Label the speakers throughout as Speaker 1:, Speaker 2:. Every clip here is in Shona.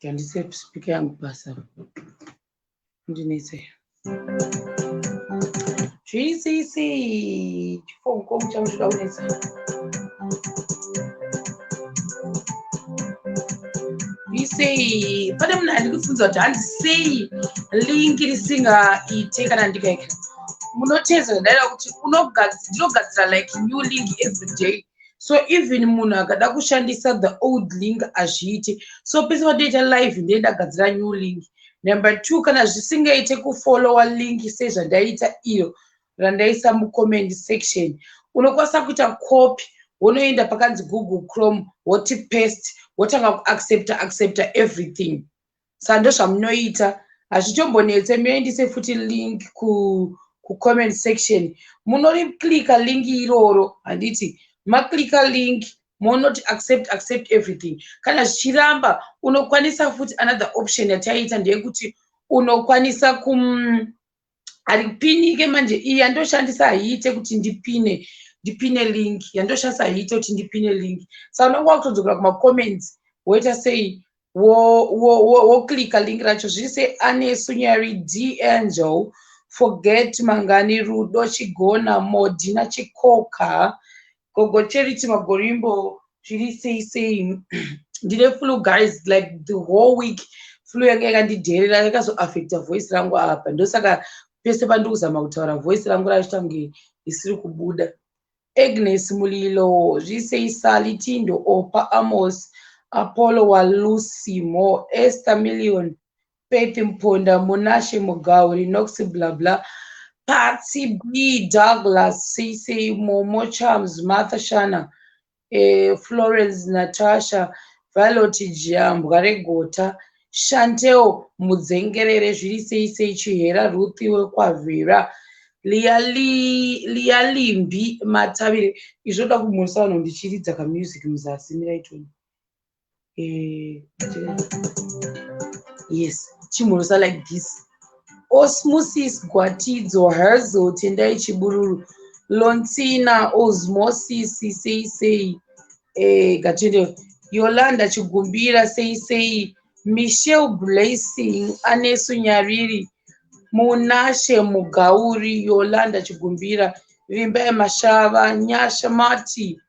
Speaker 1: Tandise speaker yangu basa. Ndinetse. GCC chifongo muchanga zvida kunetsa. sei pane munhu andikufunza kuti hanzi sei link risingaite kana ndikaika munoteza ndaida kuti ndinogadzira like new link every day so even munhu akada kushandisa the old link hazviite so pese patoita live ndiye ndagadzira new link number two kana zvisingaite kufollowa link sezvandaita iyo randaisa mucomment section unokwanisa kuita copy wonoenda pakanzi google chrome woti paste wotanga kuaccepta accepta everything sa ndozvamunoita hazvitombonetse muendise futi link ku kucomment section munoriklika link iroro handiti maklika link monoti accept accept everything kana zvichiramba unokwanisa futi another option yataiita ndeyekuti unokwanisa kum haripinike manje iyi yandoshandisa haiite kuti ndipine ndipine link yandoshandisa haiite kuti ndipine link saka unonge wakutodzokera kumacomments woita sei woklika link racho zviri sei anesunyari d angel forget mangani rudo chigona modina chikoka gogo charity magorimbo zviri sei sei ndine flu guys like the whole week flu yanga yakandidherera yakazoaffecta voice rangu apa ndosaka pese pandiri kuzama kutaura voice rangu raiita kunge risiri kubuda agnes mulilo zvisei sali tindo opa amos apollo walucy mo ester million Faith Mponda, Munashe Mugauri, Nox blah blah, Patsy B, Douglas, CC, Momo Charms, Martha Shana, eh, Florence Natasha, Violet Jambwa Regota, Shanteo Mudzengerere, zviri sei sei Chihera Ruthi wekwavhera liyalimbi matavire izvoda kumhoresa vanhu ndichiridza kamusic muzasi miraitoni eh, yes chimhorosa like this osmosis gwatidzo hazo tendai chibururu lontsina osmosis sei sei eh, gatende yolanda chigumbira sei sei michel blessing anesu nyariri munashe mugauri yolanda chigumbira vimbai mashava nyasha mati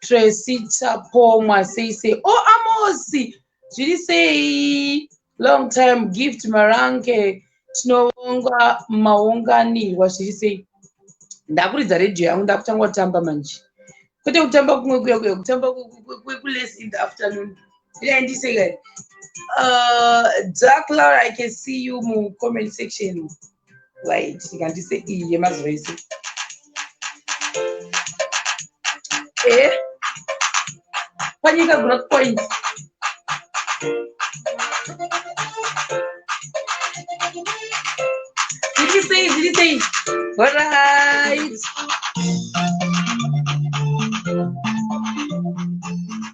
Speaker 1: tracy tapomwa sei sei o oh, amosi zviri sei long time gift marange tinovonga maunganirwa zviri sei ndakuridza radio yangu ndakutanga kutamba manje kwete kutamba kumwe kuya kuya kutamba kwekules in the afternoon idaindiseka uh, dark lar i can see you mucomment section Wait, ndikandise iyi yemazuva ese. Eh? Panyika growth point. Zviri sei, zviri sei? All right.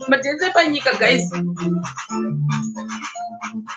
Speaker 1: Madance panyika guys.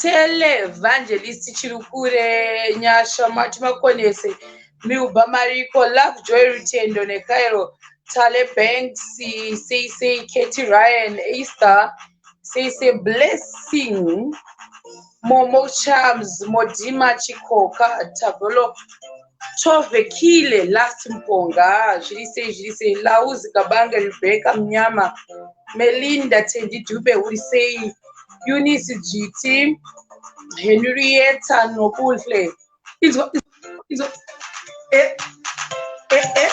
Speaker 1: televangelist chirukure nyasha mati makonese milba mariko love joy rutendo nekairo tale banks cc keti ryan easter cc blessing momo charms modima chikoka tavolo chovekile last mponga zviri sei zviri sei lauzi kabange rebeka mnyama melinda tendidube uri sei eunice jiti henrieta nokuhle inzwa inzwa eh, eh, eh.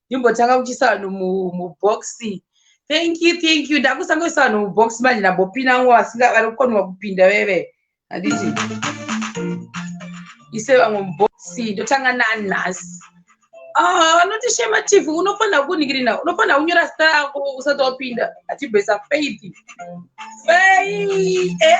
Speaker 1: ndimbotanga kuchisa vanhu mubox thank you thank you ndakusangoisa vanhu mubox manje ndambopinda ngo vasinga vari kukonwa kupinda veve handiti ise vamwe mubox ndotanga nani nhasi ah, vanoti ah, shema tv unofanira kuningirina unofanira kunyora zita rako usati wapinda achibhesa faith faith eh.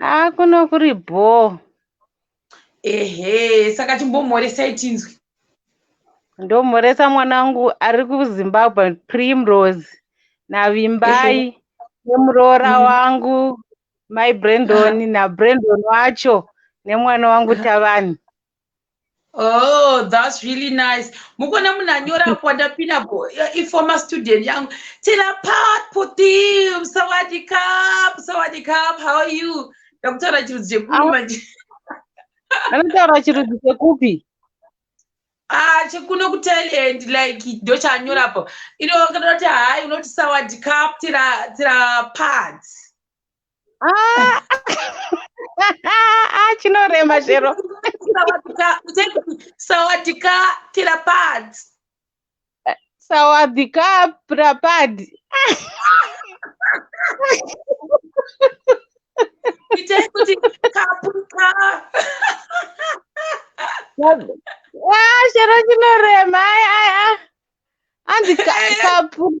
Speaker 1: Ah,
Speaker 2: kuno kuri bhoo. Ehe,
Speaker 1: saka chimbomhoresai tinzwe.
Speaker 2: Ndomhoresa mwanangu ari kuZimbabwe Primrose naVimbai nemuroora Mm. wangu Mai Brandon naBrandon wacho nemwana wangu Tavani. Oh,
Speaker 1: that's really nice. Mukona munanyora kwanda pina bo eh, i former student yangu. Tina part putim sawadi cup sawadi cup how are you? Ndakutaura chirudzi chekupi manje.
Speaker 2: Anotaura chirudzi chekupi? Ah,
Speaker 1: chekuno ku Thailand like ndo chanyora po. Ino kana kuti hai unoti sawadi cup tira tira parts. Ah,
Speaker 2: ah, chinorema chero
Speaker 1: sawadika pirapad sawadika
Speaker 2: pirapad itai
Speaker 1: kuti kapuka
Speaker 2: ah, chero chinorema anzi kapuka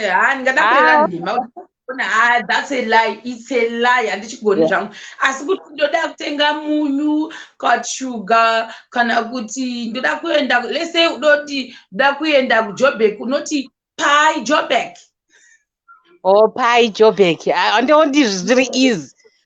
Speaker 1: Eh, haa ndingada kurera Ah. nhema ona haa that's a lie it's a lie handichigoni Yeah. zvangu asi kuti ndoda kutenga munyu kana shuga kana kuti ndoda kuenda let's say udoti ndoda kuenda kujobek unoti pai jobek
Speaker 2: Oh, pai Joburg. Ah, ndoo ndizvi zviri easy.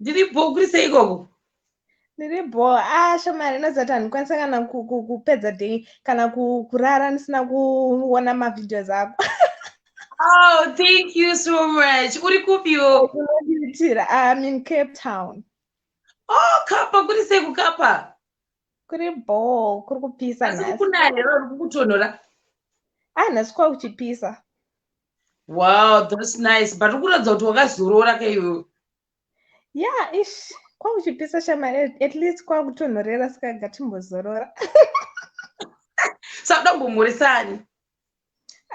Speaker 3: ndiri bho
Speaker 1: kuri sei ikoko ndiri
Speaker 3: bho a ah, shamari inoziva kuti handikwanisa kana kupedza day kana kurara ndisina kuona mavideos ako oh
Speaker 1: thank you so much uri kupiwo unondiitira iam
Speaker 3: in cape town oh
Speaker 1: kapa kuri sei kukapa kuri
Speaker 3: bho kuri kupisa asi kukunaya here uri
Speaker 1: kukutonhora a ah,
Speaker 3: nhasi kwa kuchipisa
Speaker 1: wow thats nice but ukuratidza kuti wakazorora kaiwewe yeah
Speaker 3: ish kwakuchipisa shamari at least kwakutonhorera saka gatimbozorora
Speaker 1: sakuda kumbomhoresani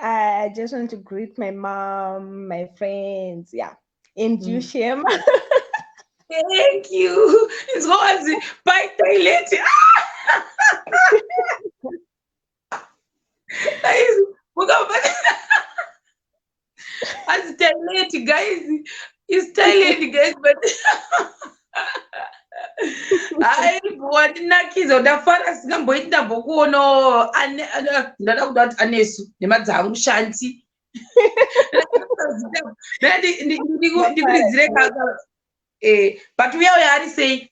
Speaker 3: i just want to greet my mom my friends yeah and mm. you shema
Speaker 1: thank you inzwa wanzi by toilet azitaileti guys isitaileti guys but haibowandinakiza ndafara singamboiti ndambokuona ndada kuda kuti anesu nemadza angu shanti ndikuridzire kaka eh, but uya uya ari sei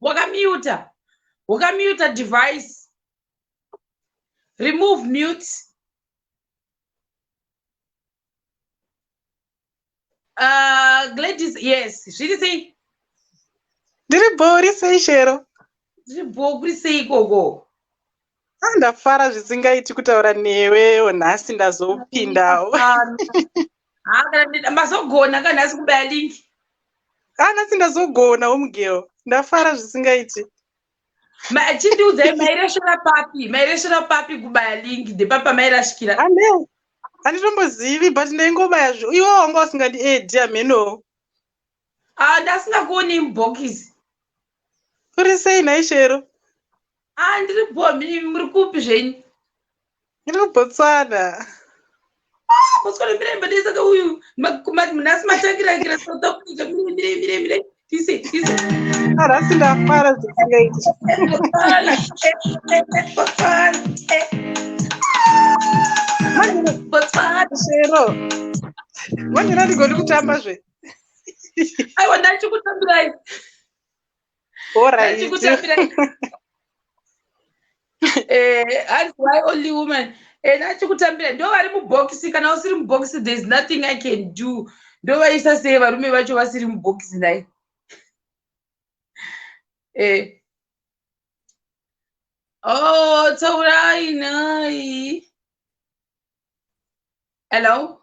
Speaker 1: wakamute wakamute device remove mute uh, gladys yes zviri sei
Speaker 2: ndiri bho uri sei shero ndiri bho
Speaker 1: kuri sei ikoko Ah,
Speaker 2: ndafara zvisingaiti kutaura newewo nhasi ndazopindawo
Speaker 1: mazogona ka nhasi kubaya link ah, nhasi
Speaker 2: ndazogona omugirl ndafara zvisingaiti
Speaker 1: chindiudzai mairesvera papi mairesvera papi kubaya link ndepapa mairashikira
Speaker 2: handitombozivi but ndaingobaya iwo wanga usingandiedi amhenowo Ah, ndasingakuonei
Speaker 1: mubhokisi.
Speaker 2: Uri sei nhai Shero? Ah, ndiri
Speaker 1: bhombi imi muri kupi zvenyu? Ndiri
Speaker 2: kuBotswana.
Speaker 1: Ah, Botswana mire mbade saka uyu ma- ma- nhasi matangirakira South Africa mire mire mire mire tise tise. Arasi
Speaker 2: ndafara zvisingaiti. Botswana, eh, eh, eh, Botswana,
Speaker 1: eh. Manje Botswana. Shero.
Speaker 2: Manje ndadigoni kutamba zve.
Speaker 1: aiwa ndachikutambirai ndachikutambirai eh, hanzi why only woman eh, ndachikutambirai ndo vari mubhokisi kana usiri mubhokisi there is nothing i can do ndo vaisa sei varume vacho vasiri mubhokisi nai eh. Oh, Taurai, nai. Hello?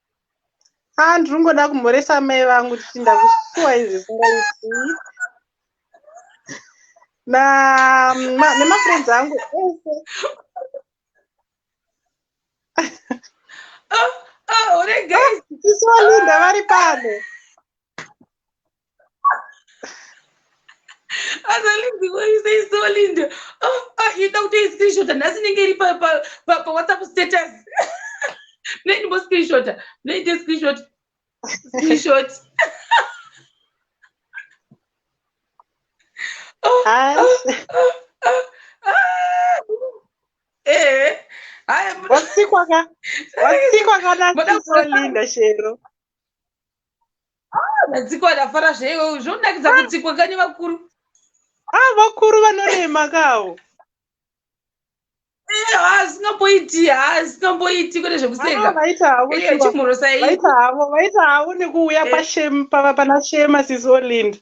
Speaker 2: Ah, ndiri kungoda kumhoresa mai vangu kuti ndakusuwa izvi zvisingaiti na ma- nemafriends angu ese
Speaker 1: Ah, ah, uri guys. isu valinda vari
Speaker 2: pano
Speaker 1: asalindiwaiseisolind ida kuti iscreenshota nhasi inenge iri pawhatsapp status mnendimbo screenshota mnoite screenshot screenshot
Speaker 2: wasikwa kanasisolinda shero
Speaker 1: Ah, vatsikwa ndafara zveiwe zvonakidza kutsikwa kani vakuru Ah, vakuru
Speaker 2: vanorema kawo. Eh, haasingambooiti
Speaker 1: haasingambooiti kune Ah, zvekuseka vaita havo Eye shuwa. chimhorosa iyi Vaita havo,
Speaker 2: vaita havo nekuuya Eh. pashem pa- pana Shema sis Olind.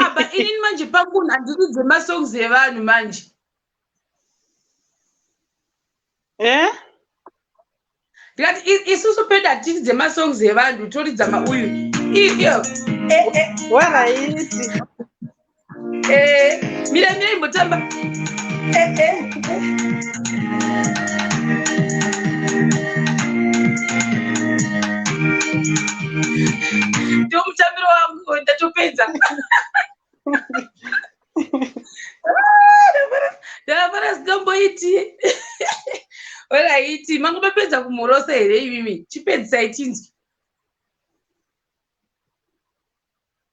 Speaker 1: aba ah, inini manje pakun handidi dzemasongs evanhu manje eh? ndikati isusu peda hatidi dzemasongs evanhu toridza mauyu iyo eh, eh. waraiti
Speaker 2: eh,
Speaker 1: mira mira imbotamba eh, eh, ndo mutambiro wangu ndatopedza ndavafana sitomboiti olaiti mangu mapedza kumhorosa here imimi chipedzisai tinzwi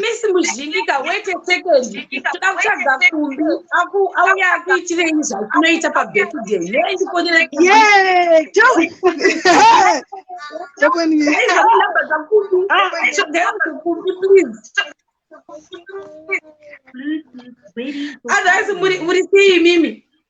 Speaker 1: misi muzhingika wete sekendoda kutsvaga kumbi auya akuitirei zvaunoita pabirthday yei ndikonerakumbi please otherwise muri sei mimi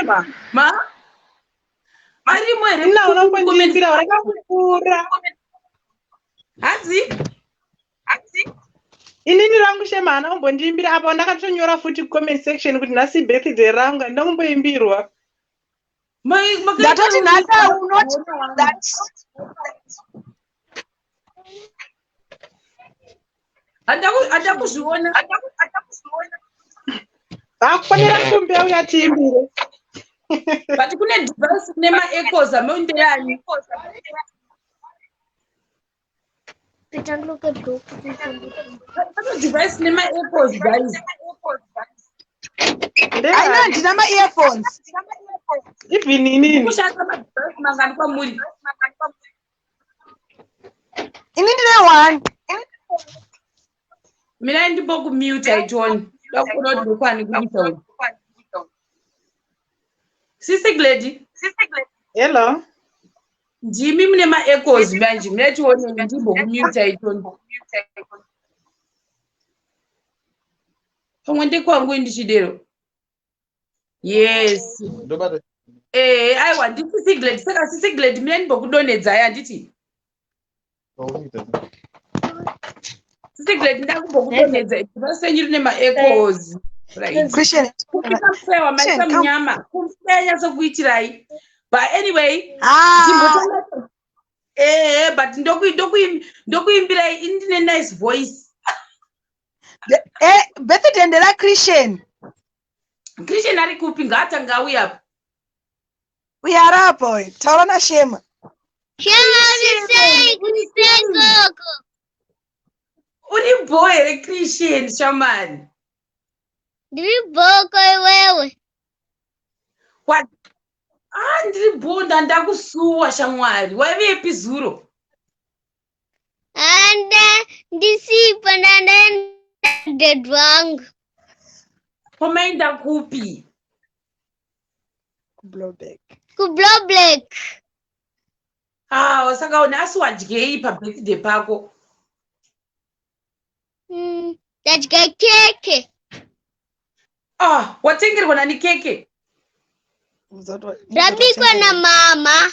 Speaker 2: Ema,
Speaker 1: ma varimo here Nina unongondimbira
Speaker 2: vakakukura
Speaker 1: hanzi hanzi
Speaker 2: inini rangu shema haana kumbondiimbira apa ndakatonyora futi comment section kuti nhasi birthday rangu handina kumboimbirwa ndatoti
Speaker 4: nhasi i will not do that
Speaker 1: hata kuzviona
Speaker 2: akufanira kumbe uya tiimbire
Speaker 1: but kune device kune maecos amoindeani device nemaecos guys
Speaker 4: aina ndina maearphones
Speaker 2: even inini kushanda madevice
Speaker 1: mangani kwamuri
Speaker 4: ini ndine one
Speaker 1: mirai ndimbo kumute aitoni dakurodokwani kuita sisi gledi hello ndimi mune maecos manje mnatione ndimbo kumute aitoni pamwe ndekwangu ndichidero yes ndobata ehe eh, aiwa nditi siglet saka sisiglet mina ndimbokudonhedzai handiti sisiglet ndakumbokudonhedza basa renyu rine maecos
Speaker 4: kuiaewa
Speaker 1: maisa munyama kuianyatsokuitirai but anyway ah. ehe eh, but ndokuimbirai ndine nice voice
Speaker 4: birthday ndera christian
Speaker 1: christian ari kupi ngaatanga auya apa
Speaker 4: uya ari apa uyu taura nashema
Speaker 1: uri bho here christian shamani
Speaker 5: ndiri bhoko iwewe
Speaker 1: a ah, ndiri bho ndandakusuwa shamwari waivepi zuro Anda
Speaker 5: ndisipo ndandaenda dad wangu.
Speaker 1: Komaenda kupi?
Speaker 4: Kublowback. Kublowback.
Speaker 5: Ah,
Speaker 1: saka une asi wadyei pabirthday pako? Mm,
Speaker 5: ndadya keke. Ah,
Speaker 1: watengerwa nani keke?
Speaker 5: Rabikwa namama.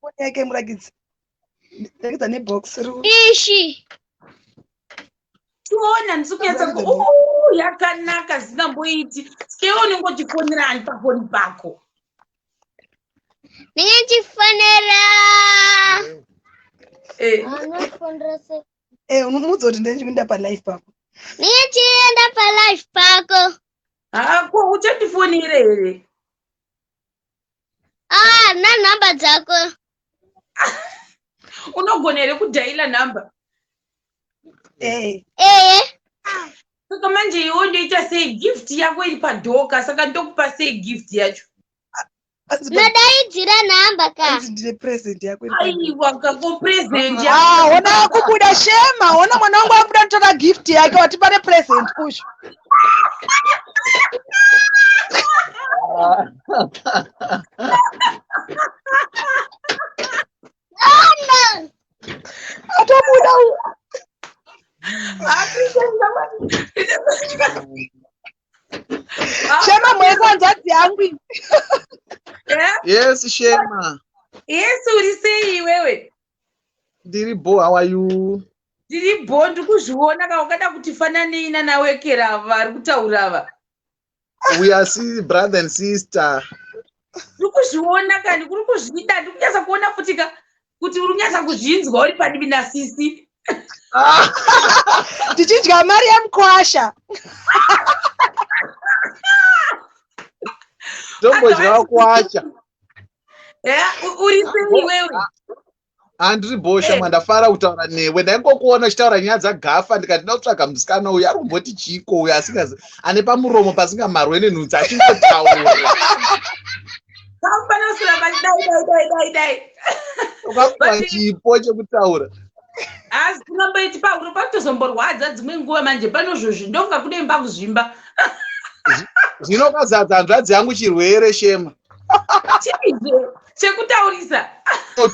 Speaker 4: Foni yake murakidzi. Rakidza nebox ruu. Ishi.
Speaker 1: Tiona ndisi kunyatsa ku "Ooh, yakanaka zikamboiti. Sikeyo unenge uchifonera ani pafoni pako. Ndinge
Speaker 5: ndichifonera. Eh, Anofonera se. Eh, unomuudza kuti
Speaker 4: ndine chikuinda palife pako. Ndinge ndichienda
Speaker 5: palife pako. hako
Speaker 1: uchandifonere here?
Speaker 5: Ah, na number dzako.
Speaker 1: Unogona here kudaila number? Eh. Eh. Saka manje iwe ndoita sei gift yako iri padoka saka ndokupa sei gift yacho? Ndodaidzira
Speaker 5: number ka. Hanzi ndine present yako
Speaker 4: iri padoka. Aiwa kako
Speaker 1: present Ah, yako. hona akubuda
Speaker 4: shema, hona mwana wangu akubuda kutora gift yake wati pane present kusho. atabuda shema mwese hanzvadzi yangu
Speaker 6: yes shema yes uri
Speaker 1: sei iwewe ndiri
Speaker 6: bo how are you ndiri bho
Speaker 1: ndikuzviona ka ungada kuti fananei nanawekera ava vari kutaura ava we
Speaker 6: are see brother and sister ndiri
Speaker 1: kuzviona ka ndikuri kuzvida ndiri kunyatsa kuona futi ka kuti uri kunyatsa kuzvinzwa uri padivi nasisi
Speaker 4: tichidya mari yemukwasha
Speaker 6: ndombodyawo kwacha
Speaker 1: uri sei iwewe handiri
Speaker 6: bhosha eh. mandafara kutaura newe ndaingokuona uchitaura nyaya dzagafa ndikati ndakutsvaga musikana uyu ari kumboti chiiko uyu asingazi ane pamuromo pasingamarwe nenhunzi achingotaura
Speaker 1: kwakuva
Speaker 6: chipo chekutaura asi
Speaker 1: unomboiti pahuro pakutozomborwadza dzimwe nguva manje panozvozvi ndonga kudemba kuzvimba
Speaker 6: zvinokazadza hanzvadzi yangu chirwere shema
Speaker 1: chekutaurisa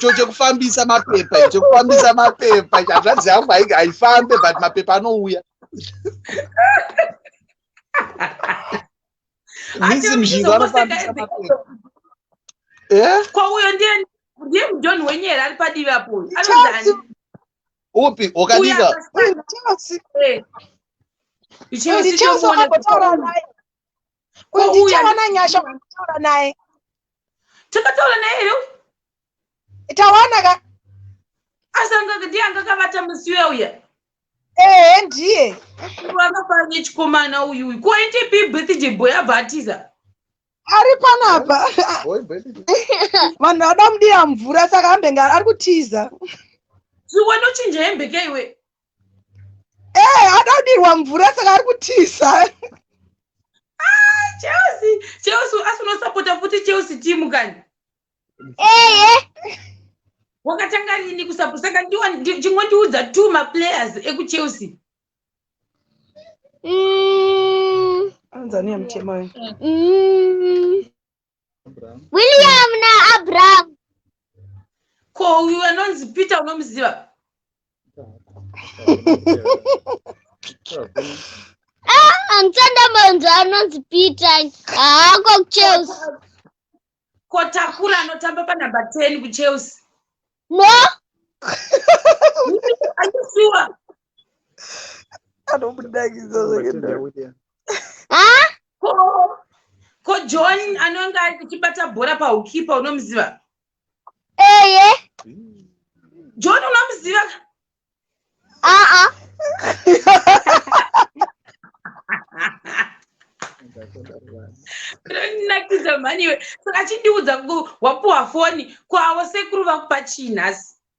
Speaker 1: cho
Speaker 6: chekufambisa mapepa chekufambisa mapepa hazvadzi yangu haifambe but mapepa anouya misi mzhinga anofambisa mapepa
Speaker 1: eh? kwauyo ndiye ndiye mudhoni wenyera ari padivi apo anozani upi
Speaker 6: wakadika
Speaker 4: kwandichawana nyasha kutaura naye
Speaker 1: takataura naye here
Speaker 4: tawana ka asanga
Speaker 1: ndiye anga kavata musi uya uya ehe
Speaker 4: ndiye akafara
Speaker 1: nechikomana uyu uyu koite pi birthday boy abva atiza ari
Speaker 4: panapa vanhu vada mudiya mvura saka ambenge ari kutiza
Speaker 1: zviwanochinja hembeke iwe
Speaker 4: ee eh, adadirwa mvura saka ari kutiza ah,
Speaker 1: chelsea chelsea asi unosapota futi chelsea timu kani eye eh, eh. wakatanga rini kusapota saka chimwe ndiudza two maplayers ekuchelsea mm.
Speaker 4: anzani yamutema mm.
Speaker 5: William naAbraham.
Speaker 1: Ko uyu anonzi Peter unomuziva?
Speaker 5: Ah, amusanda munhu anonzi Peter. Ah, ko kuChelsea.
Speaker 1: Ko Takura anotamba panhamba 10 kuChelsea. No. Are you sure? anobudakidza zvakadai ko john anonga achibata bhora paukipa unomuziva eye john unomuziva aa ndinakidza mhani iwe saka chindiudza wapuwa foni kwawo sekuru vakupa chii nhasi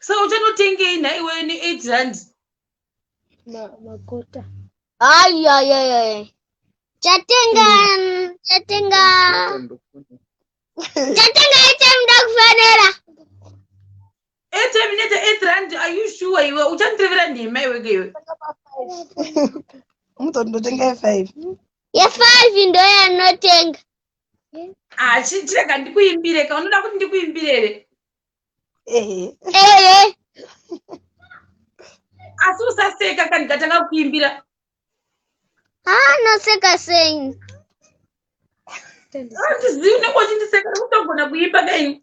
Speaker 1: so uchanotengei nhai iweyo ne8 rand makota
Speaker 5: ayayayaya chatenga chatenga chatenga atm ndakufanira
Speaker 1: atm ineta 8 rand are you sure iwe uchandirevera nhema iweke iwe
Speaker 4: mutondotenga ye5
Speaker 5: ye5 ndoyanotenga
Speaker 1: Ah, chi- chirega ndikuimbire ka unoda kuti ndikuimbire here Ehe. Ehe. asi usaseka ka ndikatanga kukuimbira Ah,
Speaker 5: noseka sei?
Speaker 1: handizivi unenge uchindiseka kutogona kuimba kaini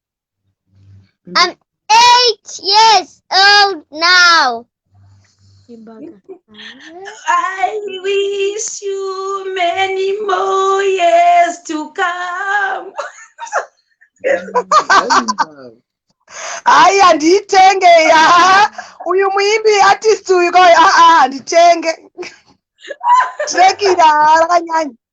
Speaker 5: I'm eight years old now. I
Speaker 1: wish you many more years to come.
Speaker 4: hayi handiyitenge ya uyu muimbi artist uyu ka uyu aa handitenge trekira rakanyanya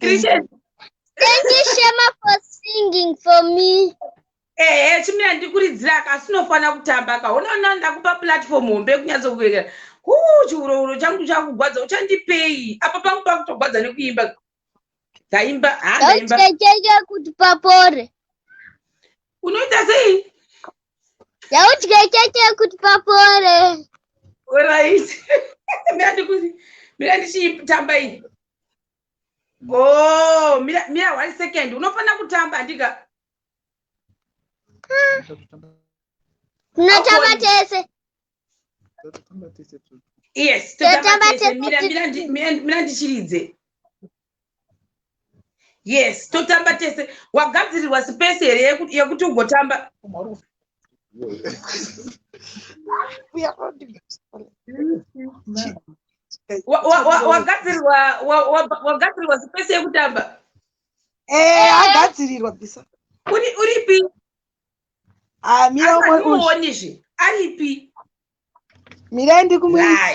Speaker 1: Christian. Thank
Speaker 5: you, Shema, for singing for me. ehe
Speaker 1: chimira ndikuridzira ka asi unofanira kutamba ka unoona ndakupa platform hombe kunyatsokuverekera huu chiurouro changu chakugwadza uchandipei apa pangu pakutogwadza nekuimba ndaimba ha ndaimba Ndauchekeke
Speaker 5: kuti papore.
Speaker 1: unoita sei yaudye keke
Speaker 5: kuti papore
Speaker 1: orit mira ndichiitamba iyi go mira one second unofanira kutamba andika
Speaker 5: tinotamba tese
Speaker 1: yes totamba tese mira ndichiridze yes totamba tese wagadzirirwa space here yekuti ugotamba wagadzirirwa space yekutamba eh, agadzirirwa
Speaker 4: bisa uripi ah, miraonizve
Speaker 1: aripi
Speaker 4: mirai ndikumuiiaaa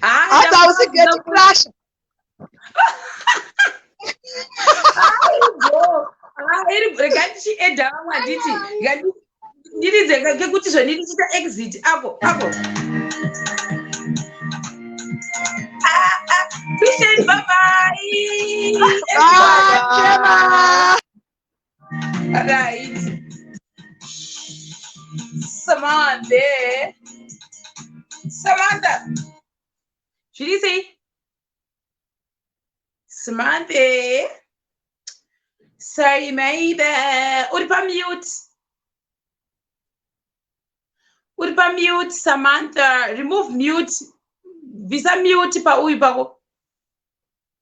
Speaker 4: hata hausi geti crasha
Speaker 1: regai tichiedha vamwe handiti ndiridze kekuti zvandindichiita exit apo apo Christian, bye bye. Bye, Gemma. right samantha samantha zviri sei samantha saimaibe uri pamute uri pamute samantha remove mute bvisa mute pauyu pako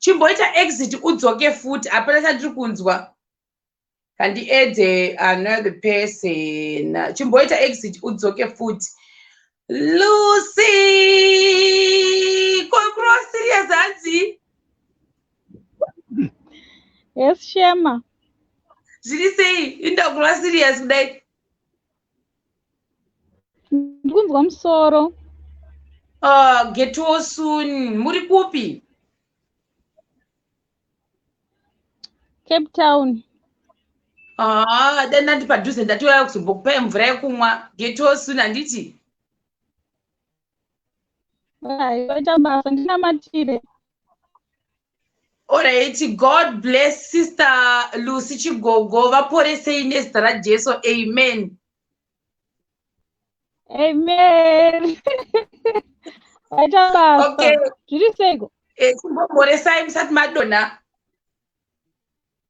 Speaker 1: chimboita exit udzoke futi hapana chandiri kunzwa handiedze another person chimboita exit udzoke futi lucy kokurova serious hanzi
Speaker 7: yes shema zviri
Speaker 1: sei indakurova serious kudai
Speaker 7: ndikunzwa musoro uh,
Speaker 1: getwo soon muri kupi
Speaker 7: cape town haa ah, dani
Speaker 1: nandi padhuze ndatoyaya kuzombokupai mvura yekumwa getwo soon handiti
Speaker 7: aivaita basa ndinamatire
Speaker 1: Alright, God bless sister Lucy Chigogo vaporesei nezita raJesu. Amen.
Speaker 7: Amen. Aita basa. Okay. Zviri seiko? Eh, kumboporesai
Speaker 1: musati madonha.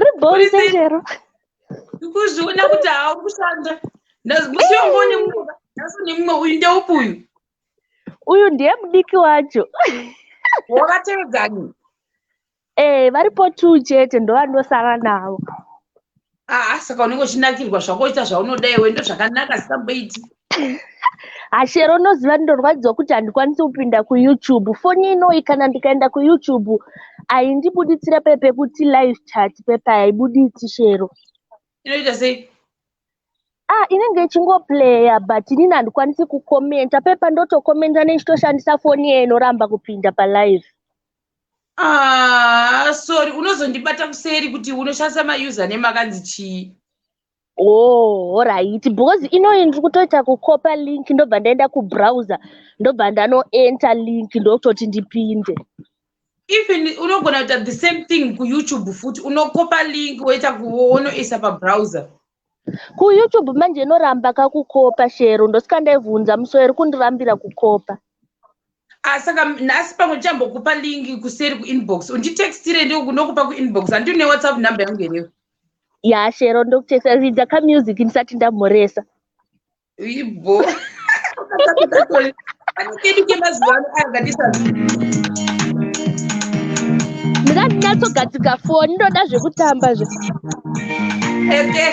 Speaker 5: Ribhorizero. Ndikuzviona
Speaker 1: kuti haakushanda. Ndazikushongone mumwe. Ndaso nemumwe uyu ndeupi uyu? Uyu
Speaker 5: ndiye mudiki wacho.
Speaker 1: Wakateedzani?
Speaker 5: Eh, varipo two chete ndovandosara navo. Ah,
Speaker 1: ah, saka unenge uchinakirwa zvako ita zvaunoda iwe ndozvakanaka sikamboiti.
Speaker 5: Ashero unoziva ndorwadziwa kuti handikwanisi kupinda kuYoutube. Foni inoyi kana ndikaenda kuYoutube haindibuditsira pe pekuti live chat pepa haibuditsi Shero. Inoita sei?
Speaker 1: Ah,
Speaker 5: inenge ichingoplaya but inini handikwanisi kukomenta pepa ndotokomenta nechitoshandisa foni iye inoramba kupinda palive. Ah,
Speaker 1: sorry unozondibata kuseri kuti unoshandisa mauser name akanzi chii Oh, alright
Speaker 5: because inoyi ndiri kutoita kukopa link ndobva ndaenda kubrowser ndobva ndanoenter link ndokutoti ndipinde even
Speaker 1: unogona kuita the same thing kuyoutube futi unokopa link woita kuonoisa pabrowser Ku
Speaker 5: YouTube manje inoramba ka kukopa shero ndosika ndaivhunza musi iri kundirambira kukopa. Ah,
Speaker 1: saka nhasi pamwe ndichambokupa link kuseri kuinbox unditextire ndokupa kuinbox handi une whatsapp number yangu here ya shero
Speaker 5: ndokutexta ridza kamusic ndisati ndamhoresa
Speaker 1: Ibo. Kedu kemazuva ano aya ngatisa
Speaker 5: ndinatsogatika foni ndoda zvekutamba zve
Speaker 1: okay.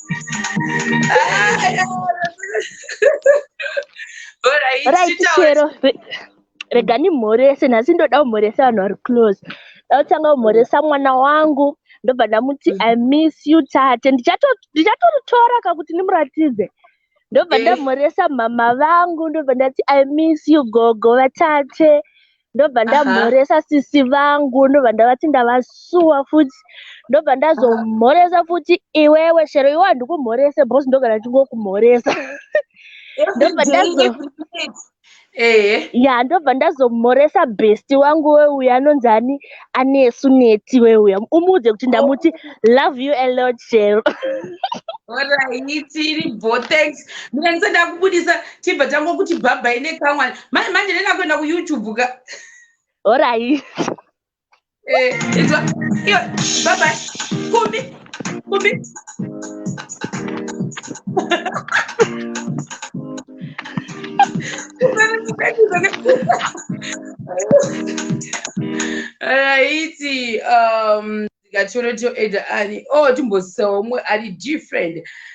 Speaker 5: right chero rega ndimhorese nhasi ndoda kumhoresa vanhu vari close ndautanga kumhoresa mwana wangu ndobva ndamuti mm. i miss you tate ndichatoritora ka kuti ndimuratidze ndobva eh. ndamhoresa mhama vangu ndobva ndati i miss you gogo vatate ndobva ndamhoresa sisi vangu ndobva ndavati ndavasuwa futi ndobva ndazomhoresa futi iwewe shero iwe handikumhorese bcause ndogara ndingokumhoresa ya ndobva ndazomhoresa besti wangu weuya anonzi ani anesu neti weuya umuudze kuti ndamuti love you a lot shero
Speaker 1: oraitiri bo thanks mina ndisada kubudisa tibva tango kuti bhabhai nekamwani manje manje ndenda kuenda kuyoutube ka orait eh, bhabhai kumbi aiti um, ndikatoroto eda ani o oh, timbosawo umwe ari different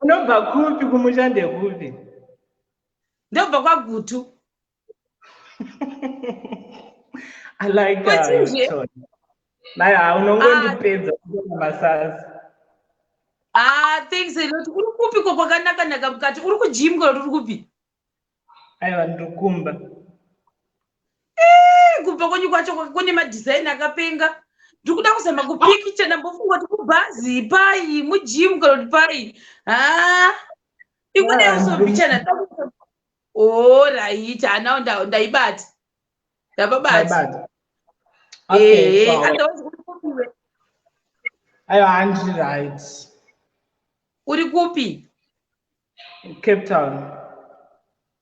Speaker 2: Unobva kupi kumusha ndekupi?
Speaker 1: Ndobva kwaGutu.
Speaker 2: I like that.
Speaker 1: Naye
Speaker 2: unongondipedza ah. kuona masasi. Ah,
Speaker 1: thanks a lot. Uri kupi ko kwakanaka naka mukati? Uri kugym kana uri kupi? aiwa
Speaker 2: ndokumba eh,
Speaker 1: kumba kwenyu kwacho kune madhizaini akapenga ndikuda kuzama kupikicha ndambofunga kuti kubhazi pai mujim kana kuti pai ha ah, ikuneyosobichana orit oh, hanawo ndaibati ndapabati
Speaker 2: eh, ayo handiri right uri kupi Cape Town.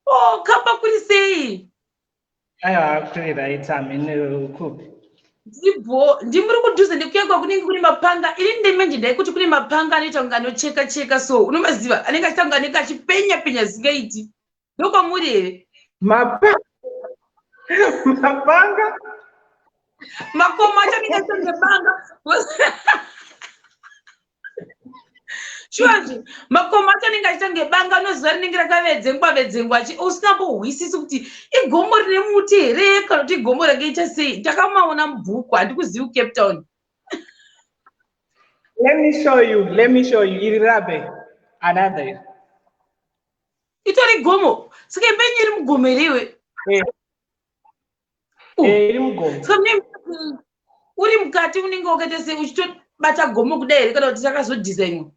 Speaker 2: Oh,
Speaker 1: kamba kuri sei? Aiwa
Speaker 2: kuri right amene kupi? Ndibho,
Speaker 1: ndimuri kudhuze nekuyakwa kunenge kune mapanga. Ini ndemenje ndaikuti kune mapanga anoita kunge anocheka cheka so unomaziva anenge achita kunge anenge achipenya penya zingaiti. Ndokwamuri here?
Speaker 2: Mapanga. Mapanga.
Speaker 1: Makoma acho anenge achita kunge banga. shuwazve makomo acho anenge achiita kunge banga unoziva rinenge rakavedzengwa vedzengwa chi usina mbohwisisi kuti igomo rine muti here kana kuti igomo rakaita sei ndakamaona mubhuku handikuzivi kucape town
Speaker 2: let me show you let me show you iri rabe another
Speaker 1: itori gomo saka imbenyu iri mugomo here iwe eh.
Speaker 2: eh, iri mugomo so mne
Speaker 1: uri mukati unenge wakaita sei uchitobata gomo kudai here kana kuti takazodhizainwa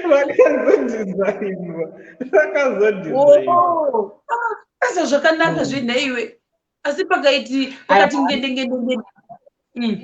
Speaker 1: vakazodhizainwa vakazodhizainwaasa oh, zvakanaka hmm. zvenha iwe asi pakaiti pakati ngendengende hmm.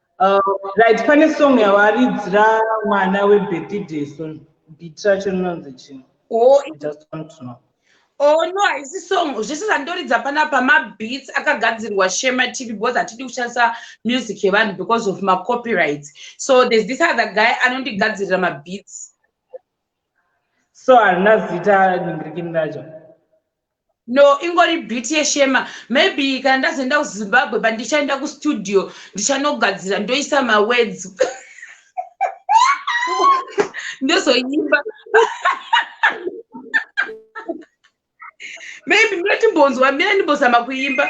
Speaker 2: Uh, right, pane song yawaridzira mwana webheti deso bit racho rinonzi chii oh, just
Speaker 1: want to know
Speaker 2: oh no haisi
Speaker 1: song zvese zvandoridza panapa mabeats akagadzirwa shema tv because hatidi kushandisa music yevanhu because of macopyrights so there's this other guy anondigadzirira mabeats
Speaker 2: so harina zita ningirikini racho No,
Speaker 1: ingori beat yeshema. Maybe kana ndazoenda kuZimbabwe but ndichaenda kustudio ndichanogadzira ndoisa mawords. Ndozoimba. Maybe mune timbonzwa mine ndimbozama kuimba.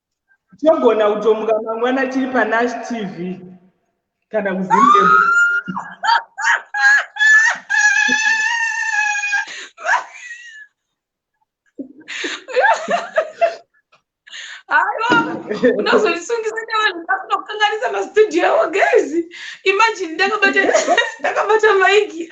Speaker 2: togona kutomuka mangwana tiri panash tv kana kuzimbe
Speaker 1: unozondisungisa nevanhu ndakunokanganisa mastudio avo guys imagine ndakabata ndakabata maiki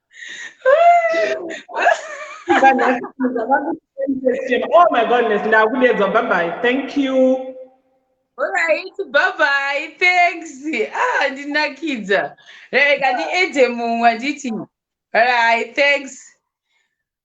Speaker 2: oh my goodness ndakudedzwa babai thank you
Speaker 1: Alright, bye bye. Thanks. Ah, ndinakidza. Hey, kati ete mumwe anditi. Alright, thanks.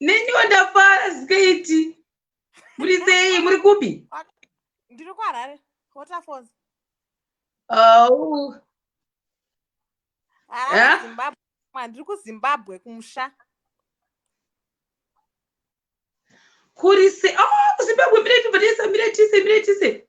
Speaker 1: neniwo ndafara zikaiti muri sei muri kupi ndiri
Speaker 8: kuharare waterfalls
Speaker 1: oh.
Speaker 8: ndiri kuzimbabwe kumusha
Speaker 1: kuri se oh, kuzimbabwe miretise miretise miretise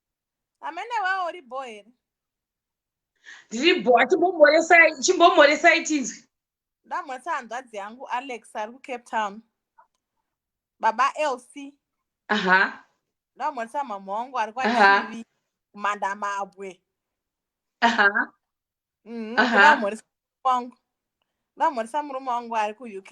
Speaker 8: amene wawo uri bho here ndiri bho
Speaker 1: chimbomhoresai tinzwi ndamhoresa
Speaker 8: hanzvadzi yangu alex ari kucape town baba lc aha
Speaker 1: ndamhoresa
Speaker 8: mhamha wangu ari kwachivi kumanda mabwe
Speaker 1: aha mhm,
Speaker 8: ndamhoresa wangu ndamhoresa murume wangu ari kuuk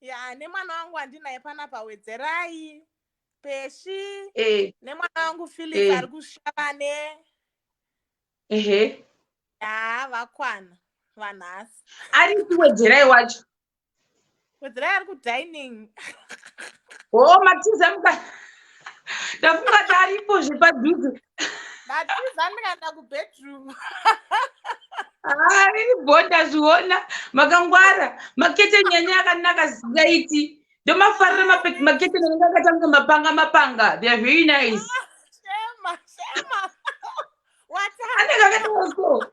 Speaker 1: ya
Speaker 8: nemwana wangu andinaye panapa wedzerai peshi eh. nemwana wangu philip eh. ari kushavane ehe ya vakwana vanhasi ari kuwedzerai
Speaker 1: wacho
Speaker 8: wedzerai ari kudining
Speaker 1: o oh, matiza muka ndafunga taripo zvepadhuze ndatiza
Speaker 8: ndikaenda kubedroom haa
Speaker 1: ini bho ndazviona makangwara makete nyanya yakanaka zikaiti ndomafarira makete nanenge akatanga mapanga mapanga they are very nice anenge akataaso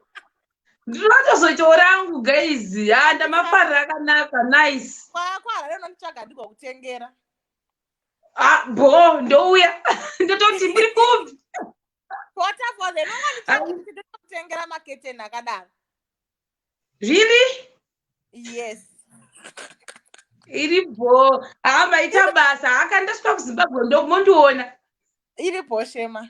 Speaker 1: ndinotozoitawo rangu guys haa ndamafarira akanaka nice kwakwahareno nditsvaga
Speaker 8: ndigokutengera ah bo
Speaker 1: ndouya ndototi muri kupi
Speaker 8: waterfalls enonganitengera maketeni akadaro
Speaker 1: really
Speaker 8: yes iri
Speaker 1: bho haa maita basa haakandasvika kuzimbabwe ndomondiona iri bho
Speaker 8: shema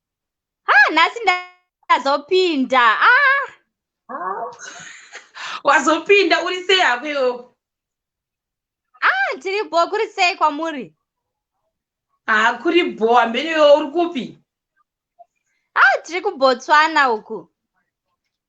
Speaker 1: ah
Speaker 9: nhasi ndazopinda ah
Speaker 1: wazopinda uri sei hako iwewo ah
Speaker 9: tiri bho kuri sei kwamuri haa ah, kuri
Speaker 1: bho hambeni iwewo uri kupi
Speaker 9: ah tiri kubotswana uku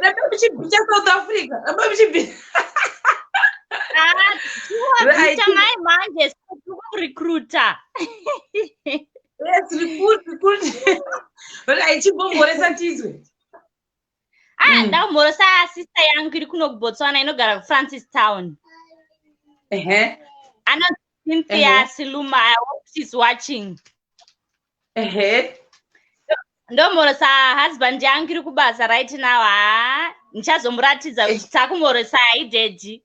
Speaker 1: Rebebichibita South Africa. Rebebichibita.
Speaker 9: Right. Mai manje recruiter. Yes, recruit,
Speaker 1: recruit. Right, chibomboresa tizwe. ah mm. ndakumborosa
Speaker 9: sister yangu iri kuno kubotswana inogara kufrancis town ehe uh -huh. anonzi cynthia uh -huh. siluma i hope she's watching ehe uh -huh ndomhorosa husband yangu iri kubasa right now ha ndichazomuratidza kuti takumhorosa haidedi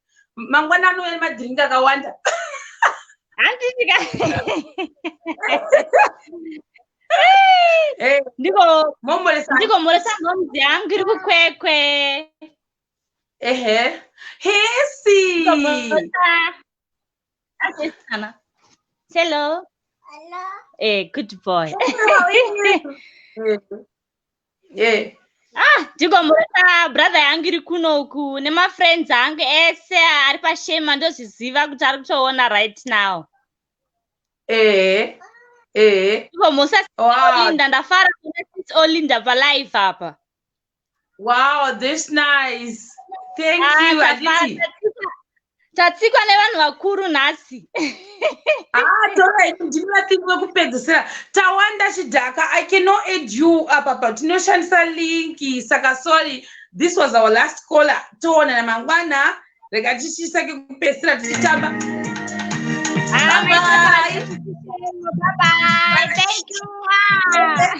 Speaker 1: mangwana anouya nemadhiringi akawanda handiti ka
Speaker 9: ndiko moresa momzi yangu iri kukwekwe ehe
Speaker 1: hesi hello eh
Speaker 9: good boy yeah. ah ndigombota brother yangu iri kuno uku nemafriends angu ese ari pashema ndozviziva kuti ari kutoona right now ehe ehe ndigomusa olinda ndafara kuna sis olinda palive apa wow
Speaker 1: this nice thank ah, you
Speaker 9: tatsikwa nevanhu vakuru nhasi ah,
Speaker 1: torai ndimi vatsiki vekupedzisira tawanda chidhaka i cannot aid you apa pa tinoshandisa linki saka sorry this was our last caller toonana mangwana rega tichisake kupedzisira tichitamba Bye bye. Bye bye.
Speaker 9: Thank you.